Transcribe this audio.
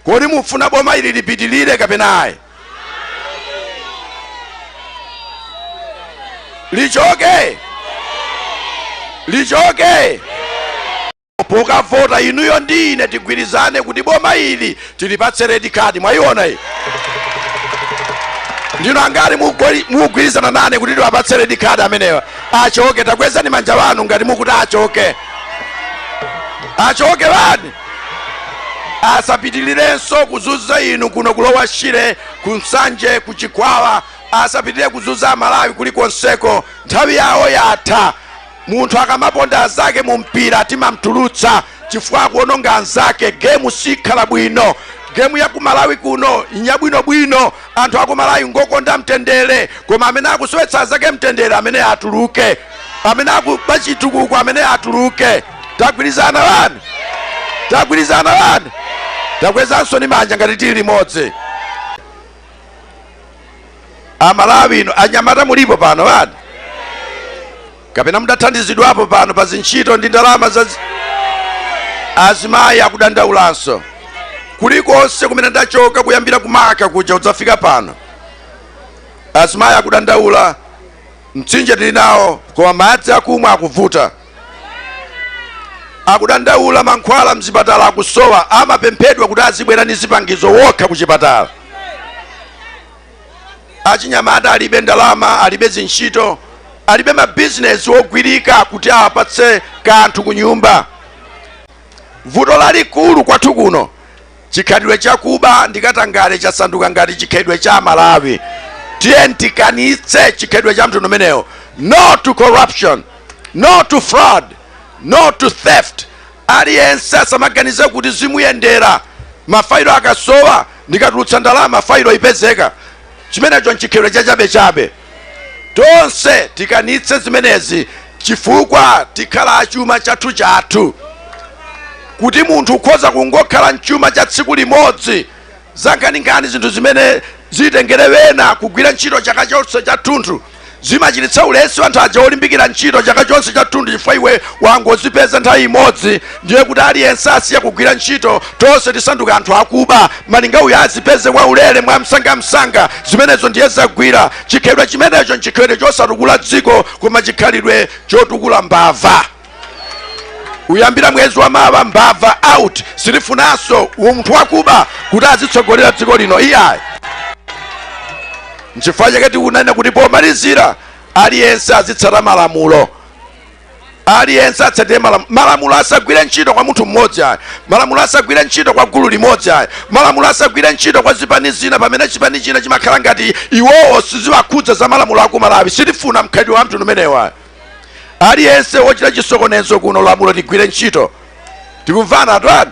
Kodi mufuna boma ili lipitilire kapena ayi? Lichoke, lichoke. Pokavota inuyo ndi ine tigwirizane kuti boma ili tilipatse red card. Mwayiona iyi ndino angati mukugwirizana nane kuti tiwapatse red card amenewa? Achoke, takwezani manja wanu ngati mukuti achoke, achoke bani. asapitilirenso kuzuza inu kuno ku Lower Shire ku Nsanje ku Chikwawa asapitilire kuzuza amalawi kulikonseko nthawi yawo yatha munthu akamaponda anzake mu mpira timamtulutsa chifukwa akuononga anzake gemu sikhala bwino gemu ya kumalawi kuno njabwinobwino anthu akumalawi ngokonda mtendere koma amene akusowetsa anzake mtendere amene atuluke amene akuba chitukuko amene atuluke tagwirizana bani tagwirizana bani takwezansoni manja ngati tili limodzi a Malawi inu anyamata mulipo pano bani kapena mudathandizidwapo pano pa zintchito ndi ndalama za zi- azimayi akudandaulanso kulikonse kumene ndachoka kuyambira ku Marka kuja kudzafika pano azimayi akudandaula mtsinje tili nawo koma madzi akumwa akuvuta akudandaula mankhwala mzipatala akusowa amapemphedwa kuti azibwera ndi zipangizo okha ku chipatala achinyamata alibe ndalama alibe zintchito alibe mabizinesi ogwirika kuti apatse kanthu ku nyumba vuto lalikulu kwathu kuno Chikhalidwe cha kuba ndi katangale chasanduka ngati chikhalidwe cha Malawi. Tiyeni tikanitse chikhalidwe cha mtundu umenewo. No to corruption. No to fraud. No to theft. Aliyense asamaganize kuti zimuyendera. Mafailo akasowa ndikatulutse ndalama failo ipezeka. Chimenecho nchikhalidwe cha chabechabe. tonse tikanitse zimenezi chifukwa tikhala chuma chathu chathu kuti munthu ukhoza kungokhala nchuma cha tsiku limodzi zankhaninkhani zinthu zimene zitengere wena kugwira ntchito chaka chonse chathunthu zimachititsa ulesi anthu aja olimbikira ntchito chaka chonse chathunthu chifukwa iwe wangozipeza nthawi imodzi ndiye kuti aliyense asiya kugwira ntchito tonse tisanduka anthu akuba malinga uyo azipeze kwaulere mwa msangamsanga zimenezo ndiye zagwira chikhalidwe chimenecho nchikhalidwe chosatukula dziko koma chikhalidwe chotukula mbava kuyambira mwezi wa mawa mbava out sitifunanso munthu wakuba kuti azitsogolera dziko lino iyayi nchifukwa chake tikunena kuti pomalizira aliyense azitsata malamulo aliyense atsatire malamu- malamulo asagwire ntchito kwa munthu mmodzi ayi malamulo asagwire ntchito kwa gulu limodzi ayi malamulo asagwire ntchito kwa zipani zina pamene chipani china chimakhala ngati iwowo siziwakhudza za malamulo aku malawi sitifuna mkhalidwe wa mtundu umenewu ayi aliyense wochita chisokonezo kuno lamulo ligwire ntchito tikumvana atani